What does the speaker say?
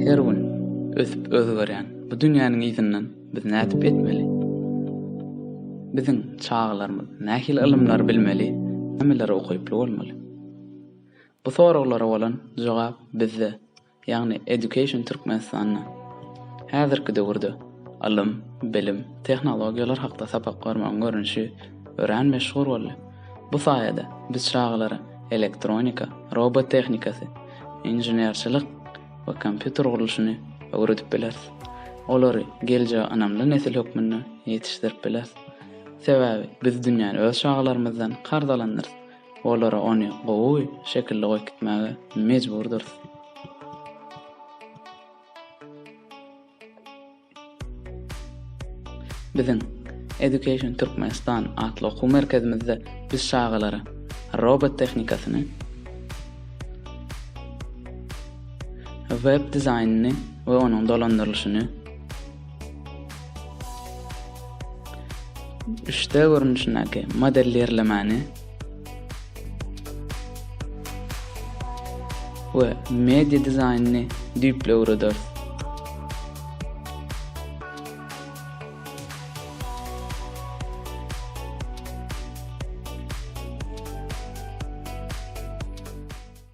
Her gün ösüp özgerýän bu dünýäniň yzyndan biz nädip etmeli? Biziň çagalarymyz nähili ylymlary bilmeli, nämeleri okayply bolmaly? Bu soraglara bolan jogap bizde. ýagny Education Türkmenistanda häzirki döwürde ylym, bilim, tehnologiýalar hakda sapak bermegiň görnüşi örän meşhur boldy. Bu saýada biz çagalara elektronika, robot tehnikasy, inženerçilik we kompýuter gurluşyny öwredip bileris. Olary geljege ynamly nesil hökmünde ýetişdirip bileris. Sebäbi biz dünýäni öz çagalarymyzdan karz alandyrys. Olara ony gowy şekilde goýup gitmäge mejburdyrys. Biziň Education Türkmenistan atly okuw merkezimizde biz çagalara robot tehnikasyny, web dizaýnyny we onuň dolandyrylyşyny, 3D görnüşindäki modelirlemäni we media dizaýnyny düýpli öwrederis.